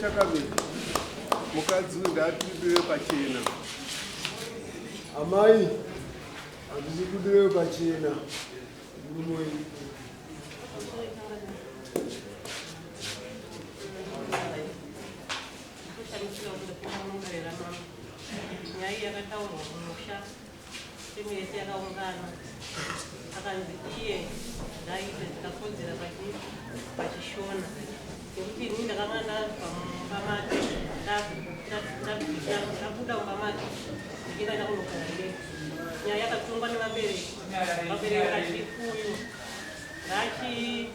chakamira mukadzi uyu ndaatibire pachena amai handisi kudire pachena murumoi Kushamisika kunge kuno mumbere ramama. Nyaya iyi yakataurwa kumusha timu yese yakaungana akanzi iye ngaaite dzikakodzera pachii pachishona nekuti ini ndakanga ndabva mumba make ndabu- ndabu- ndabu- ndabu- ndabuda mumba make ndichienda ndakunogara neku nyaya yakatongwa nevabereki vabereki vachikuyu ngachi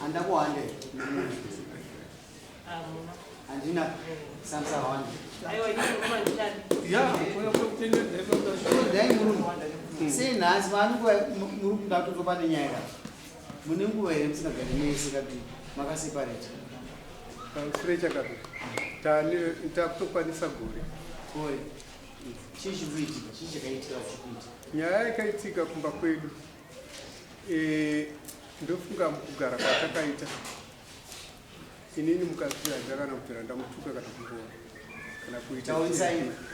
Handina kuhande. Handina. Samsa hande. Aiwa ini ngoma ndishandi. Ya, kuna kutenda ndipo ndashona. Dai murume. Sei nhasi mani kwa murume ndatotopa nenyaya ya. Mune nguva here musina gari mese kati makaseparate. Kakurecha kati. Tani takutokwanisa gore. Gore. Chii chikuitika? Chii chakaitika chikuitika? Nyaya yakaitika kumba kwedu. Eh, ndofunga mukugara kwatakaita inini mukadzi handina kana kubvira ndamutuka kana kumurova kana kuita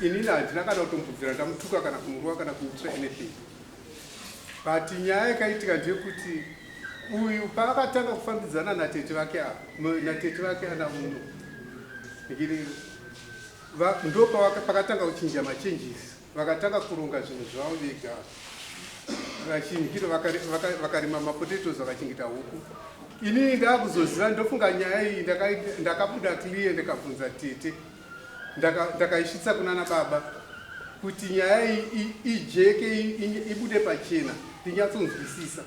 inini handina kana kutombobvira ndamutuka kana kumurova kana kuitira anything but nyaya yakaitika ndeyekuti uyu paakatanga kufambidzana natete vake ava natete vake ana muno ndopakatanga kuchinja machanges Vakatanga kuronga zvinhu zvavo vega vachinhira vakarima mapotatoes vakachengeta huku inini ndaakuzoziva ndofunga nyaya iyi ndakabuda clear ndikabvunza tete ndakaisvitsa kuna na baba kuti nyaya iyi ijeke ibude pachena ndinyatsonzwisisa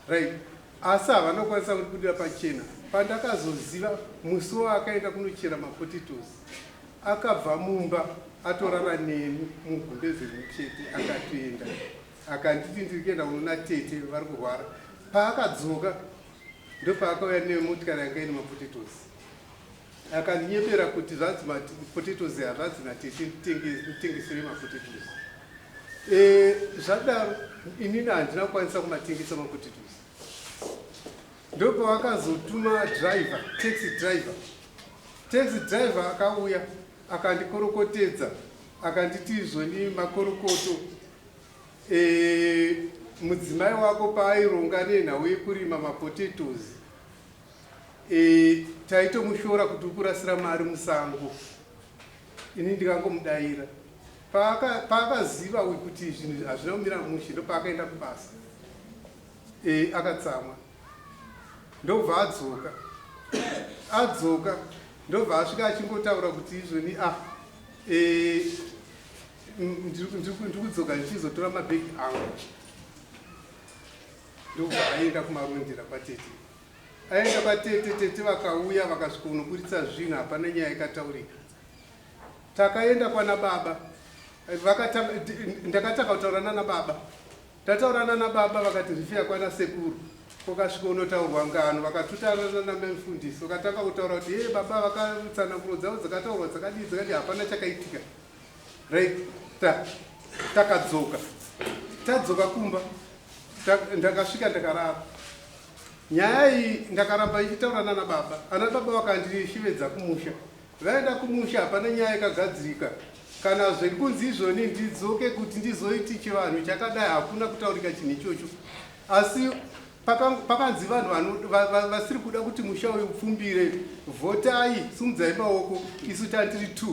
right asi havanokwanisa kundibudira pachena pandakazoziva musi wavakaenda kunochera mapotatoes Akabva mumba atorara neni mugumbeze rimwe chete akatoenda akanditi ndiri kuenda kunoona tete vari kurwara. Paakadzoka ndopaakauya nemotikari yanga ine mapotetosi akandinyepera kuti zvanzi mapotetosi hazvanzi natete nditengesere mapotetosi e, zvadaro inini handina kukwanisa kumatengesa mapotetosi Ndopavakazotuma driver, taxi driver. Taxi driver akauya akandikorokotedza akanditi izvoni makorokoto e, mudzimai wako paaironga nenhau yekurima mapotatoes e, taitomushora kuti ukurasira mari musango ini ndikangomudaira paakaziva kuti zvinhu hazvina kumira mushe ndopaakaenda kubasa Eyi akatsamwa ndobva adzoka adzoka ndobva asvika achingotaura kuti izvoni ah eh ndikudzoka ndichizotora mabhegi angu ndobva aenda kumarondera kwatete aenda kwatete tete vakauya vakasvikonoburitsa zvinhu hapana nyaya ikataurika takaenda kwana baba ndakatanga kutaura nana baba Tataura nana baba vakati rifiya kwana sekuru kokasvika unotaurwa ngano vakatutana nana mai mfundisi vakatanga kutaura kuti hee baba vakatsananguro dzavo dzakataurwa dzakadii dzakadii hapana chakaitika right ta takadzoka tadzoka kumba ta, ndakasvika ndakarara nyaya iyi ndakaramba ichitaura nana baba ana baba vakandishivedza kumusha Vaenda kumusha hapana nyaya yakagadzirika kana zviri kunzi izvoni ndidzoke kuti ndizoiti chivanhu chakadai hakuna kutaurika chinhu ichocho asi pakanzi vanhu vasiri kuda kuti musha uyu upfumbire vhotai sumudzai maoko isu tandiri t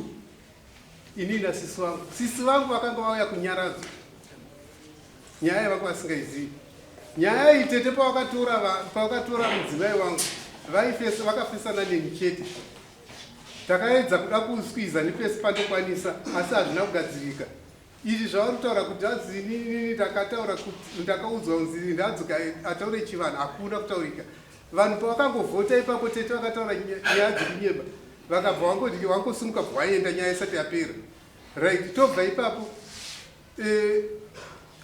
inini nasisi vangu sisi vangu vakanga vauya kunyaradzwa Nyaya yavako vasingaizivi. Nyaya iyi tete pawakatora pawakatora mudzimai wangu vaifesa vakafesana neni chete. Takaedza kuda kuskwiza nepesi pandokwanisa asi hazvina kugadzirika. Izvi zvavari kutaura kuti hanzi inini ndakataura kuti ndakaudzwa kunzi ndadzoka ataure chivanhu hakuna kutaurika. Vanhu pavakangovhota ipapo tete vakataura nyaya dzekunyeba vakabva wangoti wangosimuka bvawaenda nyaya isati yapera right tobva ipapo Eh,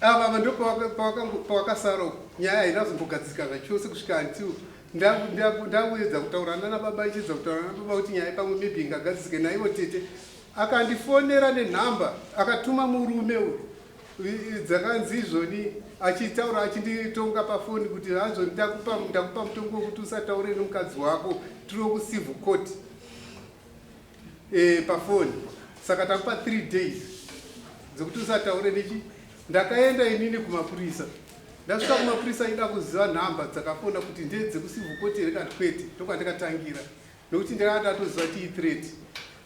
ava ava ndopawakasara uko nyaya haina kuzombogadzirika zvachose kusvika until ndakuedza kutaura nana baba ichiedza kutaura nana baba kuti nyaya pamwe maybe ingagadzirike naivo tete akandifonera nenhamba akatuma murume uyu dzakanzi izvoni achitaura achinditonga pafoni kuti hazvo ndakupa mutongo wekuti usataure nemukadzi wako tiri wekucivil court eh, pafoni saka takupa 3 days dzekuti usataure nechi ndakaenda inini kumapurisa ndasvika kumapurisa ida kuziva nhamba dzakafona kuti ndedzekusivukote here kana kwete ndokwandikatangira nokuti ndakanga ndatoziva tii threat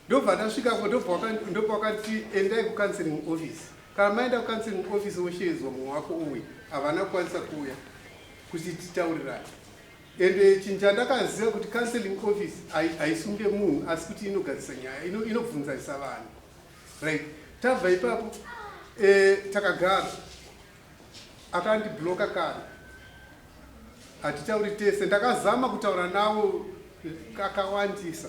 ndobva ndasvikako ndopa wakati endai kucounseling office kana maenda kucounseling office woshedzwa mumwe wako uwe havana kukwanisa kuuya kuti titaurirani Ende chinhu chandakaziva kuti counseling office haisunge munhu asi kuti inogadzisa nyaya inobvunzarisa vanhu right tabva ipapo eh, takagara akandibloka kana hatitauri tese ndakazama kutaura navo kakawandisa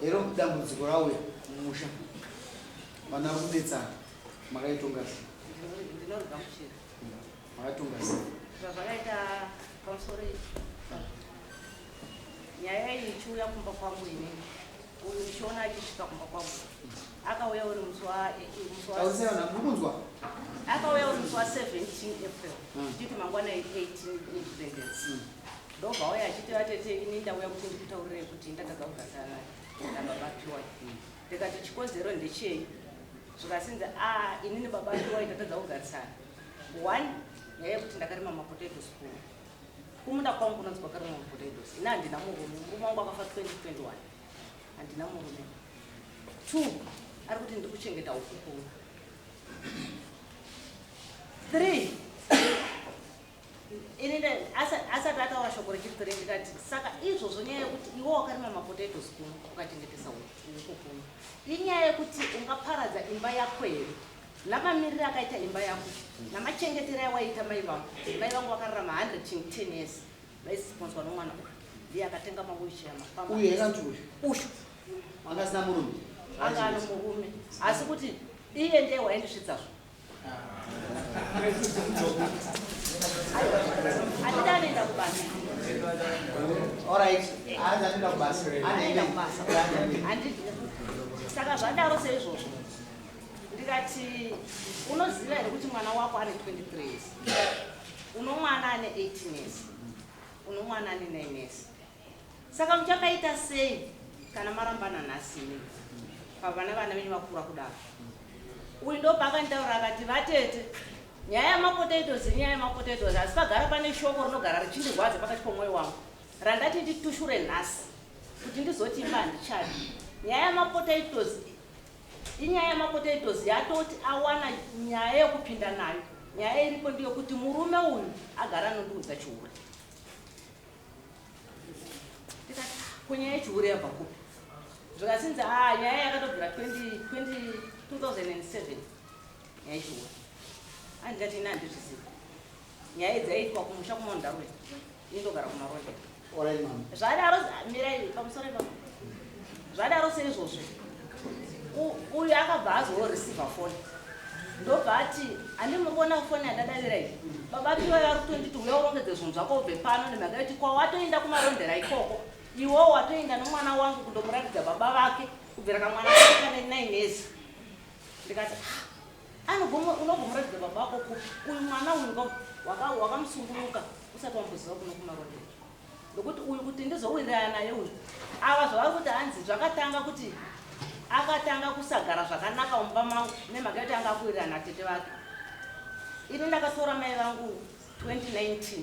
Hero dambudziko rauya mumusha vana vari kunetsana makaitonga sei ndinorega muchira makatonga sei zvazvakaita pamusoro ichi nyaya iyi ichiuya kumba kwangu inini Uyu Shona achisvika kumba kwavo akauya uri musi wa eh, eh, musi wa- Tausaona mukunzwa. akauya uri musi wa 17 april tichiti mangwana 18 independence ndobva auya achiti vatete ini ndauya kuti ndikutaurire kuti ndatadza kugarisana nababa piwai ndikati chikonzero ndechei zvikasinzi a ini nebaba piwai tatadza kugarisana one yaive kuti ndakarima mapotato school Kumunda kwangu kunonzi kwakarimwa potatoes. Ini handina murume, murume wangu akafa 2021. Handina murume. Two, ari kuti ndiri kuchengeta ukukuru. Three, ini asati ataura shoko rechiri three ndikati saka izvozvo nyaya yekuti iwe wakarima mapotatoes kuno ukachengetesa ukukuru inyaya yekuti ungaparadza imba yako here Namamirire akaita imba yako namachengetero awaita mai vangu. Mai vangu vakararama 100 ching 10 years vaisiponzwa nomwana uyu. Ndiye akatenga mawheelchair mafamba. Uyu yakanzi uyu. Uyu. Anga asina murume. Anga ano murume. Asi kuti iye ndiye waindisvitsa zvo. Andida anoenda kubasa. All right. Andida anoenda kubasa. Andida kubasa. Andida. Saka zvadaro seizvozvo. ndikati unoziva here kuti mwana wako ane 23 years uno mwana ane 18 years uno mwana ane 9 years saka muchakaita sei kana marambana nhasi ini pavana vana venyu vakura kudaro uyu ndopaakanditaura akati vatete nyaya yamapotatoes inyaya yamapotatoes asi pagara pane shoko rinogara richindirwadza pakati pomwoyo wangu randati nditushure nhasi kuti ndizoti imba handichadi nyaya yamapotatoes Inyaya yamapotatoes yatoti awana nyaya yekupinda nayo. Nyaya iripo ndeyekuti murume uyu agara anondiudza chihure. Ndikati ko nyaya yechihure yabva kupi? Zvikasinzi ah nyaya yakatobvira 20, 20, 2007 nyaya yechihure. Andikati ini handizvizivi. Nyaya idzi aiitwa kumusha kumaundarwe. Indogara kuna Roger. Alright mama. Zvadaro mirai pamusoro ipapo. Zvadaro seizvozvo. Uyu akabva azo receiver phone. Ndobva ati andi muri kuona phone yadadavira iyi. Baba piwa vari kutonditi uya urongedze zvinhu zvako ubve pano nemhaka yekuti kwawatoenda kumarondera ikoko. Iwo watoenda nomwana wangu kundomuratidza baba vake kubvira kamwana kake kane 9 years. Ndikati ah, Anogoma unogoma ratidza baba wako ku uyu mwana uyu ngoma waka wakamusunguluka usati wamboziva kuno kumaronda ndokuti uyu kuti ndizowirirana naye uyu ava zvavari kuti hanzi zvakatanga kuti akatanga kusagara zvakanaka mumba mangu nemhaka yekuti anga akuwirirana tete vake ini ndakatora mai vangu 2019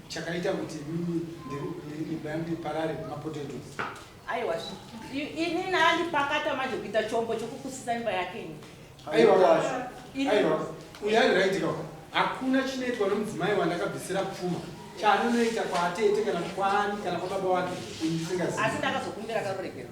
chakaita kuti ndiparare mapotatoes aiwa ini naandipakata manje kuita chombo chokukusisa imba yake ini aiwa kwazvo aiwa uyu ari right kaka hakuna chinoitwa nomudzimai wandakabvisira pfuma chaanonoita kwaatete kana kwaani kana kwababa wake ndisingazivi asi ndakazokumbira karuregerwa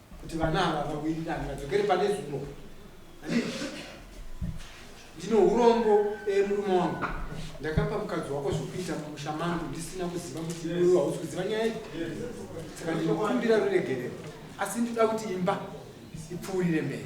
kuti vana ava vawirirane vadzokere pane zulo ndine urombo eh, murume wangu ndakapa mukadzi wako zvokuita mumusha mangu ndisina kuziva kuti iwewe hausi kuziva nyaya iyi saka ndinokumbira ruregerero asi ndinoda kuti imba ipfuurire mberi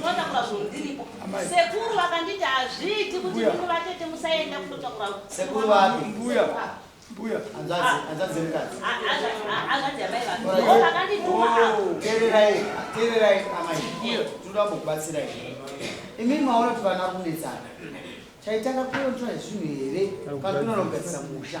Kunotakura zvinhu ndiripo. Sekuru vakanditi hazviiti kuti munhu vatete musaenda kunotakura. Sekuru vapi? Mbuya. Mbuya. Anzazi, anzazi mukadzi. Anzazi amai vangu. Vakandituma hapo. Oh, tererai, tererai amai. Mbuya, tinoda kukubatsirai. Imi maona kuti vana kunetsana. Chaitanga kuontra zvinhu here? Kana kunonogadzisa musha.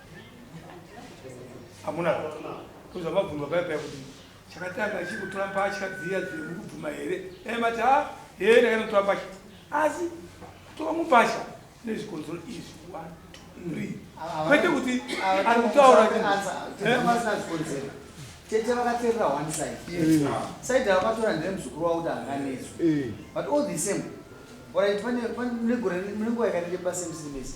hamuna kuza mabvunzwa paya paya kuti chakatanga achikutora mbatya dziya dziri mukubvuma here dai mati ha hee ndakanotora mbatya asi kutora mumbatya nezvikonzero izvi one two three kwete kuti ari kutaura tete vakaterera one side mm. side vakatora ndine muzukuru wavo kuti anganetswe mm. but all the same orit pane munegore munenguva yakanenge pasemsms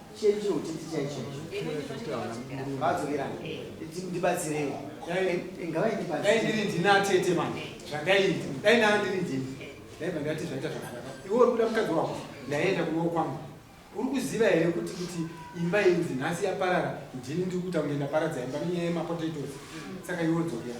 Chenjiro chiti chai chenjiro. Vadzokerana. Ndibatsirewo. Ngavai ndibatsire. Dai ndiri ndina tete manje. Zvandaiita. Dai ndanga ndiri ndini. Dai pandati zvaita zvakanaka. Iwe uri kuda mukadzi wako. Ndaienda kuno kwangu. Uri kuziva here kuti kuti imba inzi nhasi yaparara ndini ndiri kuita kunge ndaparadza imba nenyaya yemapotatoes. Saka iwe dzokera.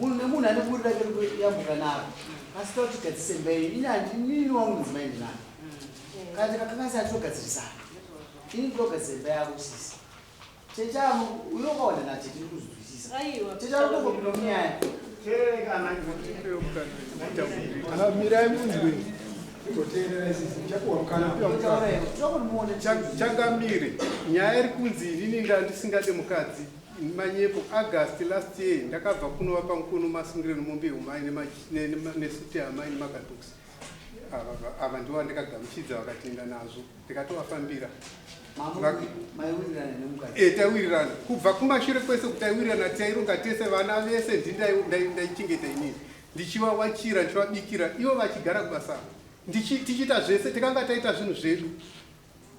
munhu nemunhu ane buri rake rikuyambuka naro asi tauti gadzisembeyi ini handinini wangu mudzimai ndinani kana ndikakanganisa handitogadzirisana ini ndinogadzisemba yako sisi tete avo uyo ukaona natete ndiri kuzwisisa tete avo ndokopinda munyaya mirai munzwe changamire nyaya iri kunzi inini ndandisingade mukadzi Manyepo, August last year ndakabva kunova pankono masungire nemombe yomai nesuti yamai nemagatox ava ndivo vandikagamuchidza vakatienda nazvo ndikatovafambira eh, taiwirirana kubva kumashure kwese kuti taiwirirana taironga tese vana vese ndindaichengeta inini ndichivawachira ndichivabikira ivo vachigara kubasa tichiita zvese tikanga taita zvinhu zvedu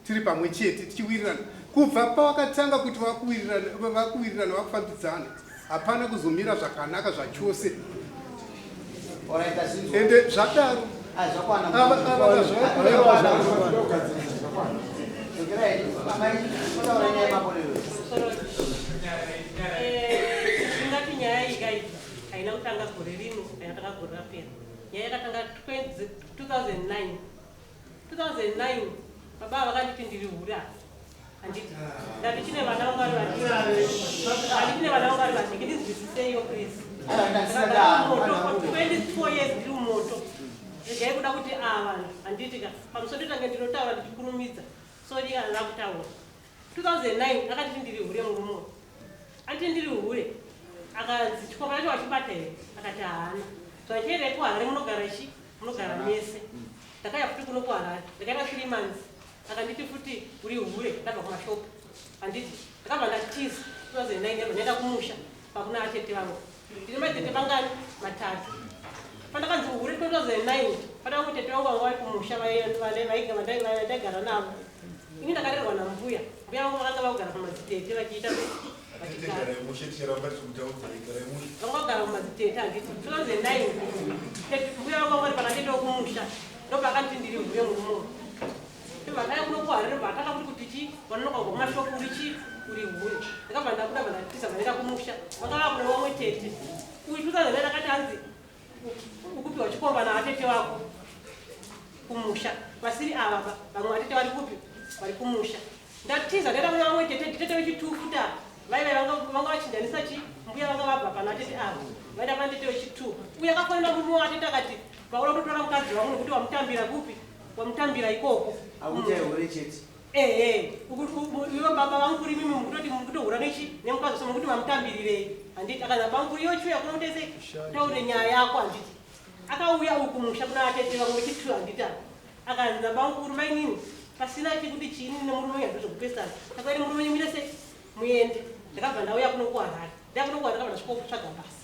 tiri pamwe chete tichiwirirana kubva pawakatanga kuti vakuwirirana vakufambidzana hapana kuzomira zvakanaka zvachose ende zvadaro ingati nyaya ikai haina kutanga gore rino haina kutanga gore rapera nyaya yakatanga 2009 2009 baba ava vakanditi ndiri hure apa handiti ndati chine vana vangu vari vadiki ndati chine vana vangu vari vadiki ndinzwisiseiwo please ndakaamoto 24 years ndiri mumoto regai kuda kuti ava ah, vanhu handiti ka pamusoro ndotange ndinotaura ndichikurumidza so rika ndakutaura 2009 akati ndiri hure murume uyu ati ndiri hure akanzi chikomba chacho wachibata here akati haana zvachiendai kuharare munogara chi munogara mese ndakaya futi kuno kuharare ndakaita three months akanditi futi uri hure ndabva kumashopu anditi ndakabva ndatiza 2009 ero ndaenda kumusha pakuna atete vangu Ndine matete mangani? Matatu. Pandakanzi uhure 2009 pandanga kuti tete vangu vanga vari kumusha vaigara navo. Ini ndakarerwa nambuya. Mbuya vangu vakanga vakugara pamadzitete vachiita vangagara mumadzitete handiti 2009 mbuya vangu vanga vari panatete vekumusha ndopakanditi ndiri mbuya murumo Vakaya kuno kuharire vakanga kuti kuti chi vanonoka kubva kumashopu uri chi uri huni ndakabva ndabuda bva ndatisa bva ndaenda kumusha vanga vakuda vamwe tete uyu tutazana ndakati hanzi ukupiwa chikomba navatete vako kumusha vasiri ava va vamwe vatete vari kupi vari kumusha ndatiza ndaenda kuna vamwe tete tete vechitufuta vaive vanga vachinjanisa chi mbuya vanga vabva pana tete ava vaenda pana tete vechitu uye akafanira murume watete akati Paula unotora mukadzi wangu nokuti wamutambira kupi? Wamutambira ikoko. Akuita mm. hure chete. Eh eh. Iwe baba vangu kuri mimi mukutoti mukutohura nechi nemukadzi so mukuti wamutambirireyi. Handiti akana bangu kuri yochu yakona utese taure nyaya yako handiti. Akauya uku musha kuna atete vangu vechitu handita. Akanzi na bangu kuri mai nini pasina chekuti chini nemurume uyu handizvo kupesana. Saka murume uyu mirese muende. Ndakabva ndauya kuno kuHarare. Ndakuno kuHarare ndakabva ndasvikotsvaga basa.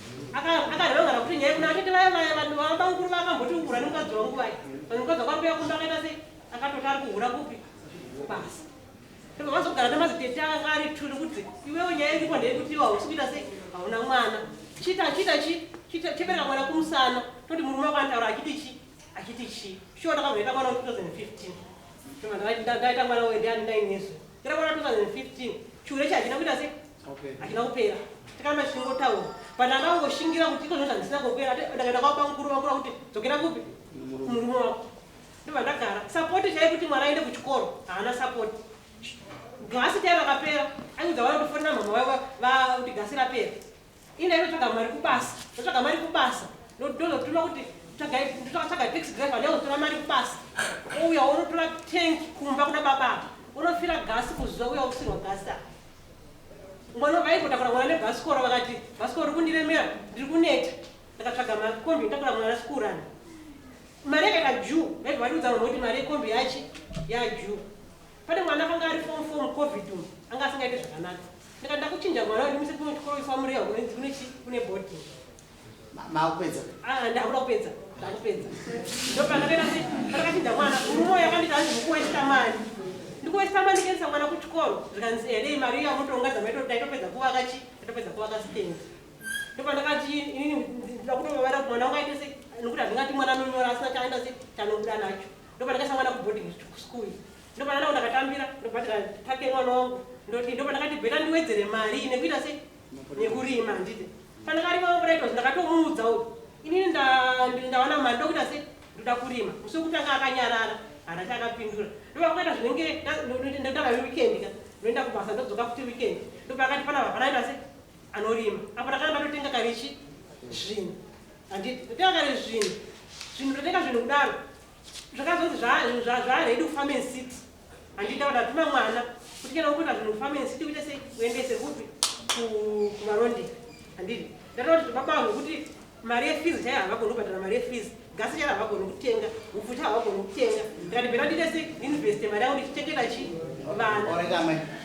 akareva kuti nyaya kuna atete vaya vaya vanhu vabamukuru vakamboti ungura nemukadzi wangu vaya vanhu mukadzi wako akuya kumba akaita sei akatoti ari kuhura kupi basi ndipo vazogara nemazitete anga ari tuli kuti iwewo nyaya iripo ndeyekuti iwe hausi kuita sei hauna mwana chita chita chi chebereka mwana kumusana toti murume wako anotaura achiti chi achiti chi shuwa ndakazoita mwana we2015 ndaita mwana wendiyani ndainezve ndira mwana 2015 chure chachina kuita sei achida kupera tikamba tichingotaura but anda kungoshingira kuti iko zvinhu zvandisina kupera ndakaenda kwaba mukuru vakura kuti dzokera kupi murume wako ndobva ndagara sapoti chaiye kuti mwana aende kuchikoro haana sapoti gasi chaiye rakapera aiudza vana kutofonera mhama vaiva vakuti gasi rapera ina inotsvaga mari kubasa ndotsvaga mari kubasa ndozotuma kuti tsvaga tax driver neotora mari kubasa ouya unotora tank kumba kuna bababa unofira gasi kuzuva uya usirwa gasi aa Mwana wanga aimbotakura mwana nebhasikoro vakati bhasikoro riri kundiremera ndiri kuneta ndakatsvaga makombi nditakura mwana sikurana mari yakaita juu vaibva vatiudza vanhu kuti mari yekombi yachi yajuu pane mwana akanga ari fom fom covid umu anga asingaite zvakanaka ndikati ndakuchinja mwana ndimise kumwe chikoro ifa murehwa kune chi kune boarding makupedza ah ndakura kupedza ndakupedza ndopakapera kuti pakati ndamwana urumo yakandita hanzi mukuwesta mari ndikuwesta mari ndikendisa mwana kuchikoro zvikanzi eh nei mari iya mutonga dzamaito ndaitopedza kuvaka chi ndaitopedza kuvaka stand ndopandakati inini ndakutongavara kuti mwana wangu aite se nokuti handingati mwana anonyora asina chaenda se chanobuda nacho ndopandakaisa mwana kuboarding school ndopandanawo ndakatambira ndobhadhira take mwana wangu ndoti ndopandakati bheta ndiwedzere mari nekuita sei nekurima handiti pandakarima maburaitosi ndakatomuudza uyu inini ndaona mari ndokuita se ndoda kurima musi wekutanga akanyarara handati akapindura ndopakuita zvinenge ndotanga weekend ka ndoenda kubasa ndodzoka futi weekend ndopakati pana vapanaita se anorima apo ndakana ndatotenga karichi zvinhu handiti ndotenga kari zvinhu zvinhu ndotenga zvinhu kudaro zvakazoti zvaready kufambe city Andita kuti hatuna mwana kuti kana ukuita zvinhu famance tikuite sei uendese kupi kumaronde handidi ndataura kuti baba vangu kuti mari yefees chaiyo havagoni kubhadhara mari yefees gasi chaiyo havagoni kutenga upfu chaiyo havagoni kutenga ndikati bhera ndiite sei ndiinveste mari yangu ndichichengeta chi vana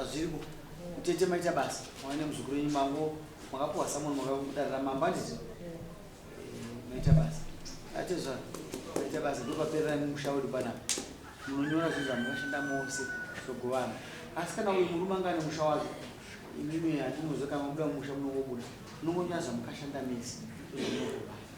Azviriko. Tete maita basa. Mwana nemuzukuru wenyu mango makapuwa someone makadarira mambo handiti? Maita basa. Atezva maita basa ndopaperera musha wedu panapa. Munonyora zvinhu zvamakashanda mose zvogovana. Asi kana uyu murume anga ane musha wacho imimi handinoziva kana mabuda mumusha munongobuda. Munongonyaza mukashanda mese. Zvinongogovana.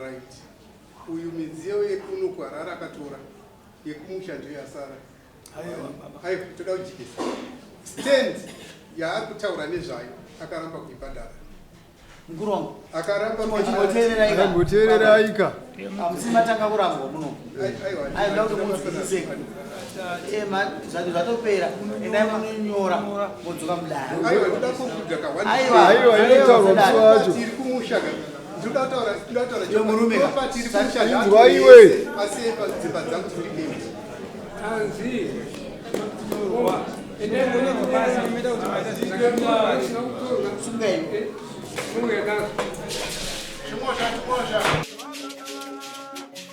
Right. Uyu midziyo yekuno kuharara akatora yekumusha ndiyo yasara. Aiwa toda kujikisa. Stand yaari kutaura nezvayo akaramba kuibhadhara. Mukuru wangu. Akaramba kuibhadhara. Chimboteereraika. Hamusi matanga kurambwa muno. zvatopera endai munonyora modzoka mudariaiwe Thank you.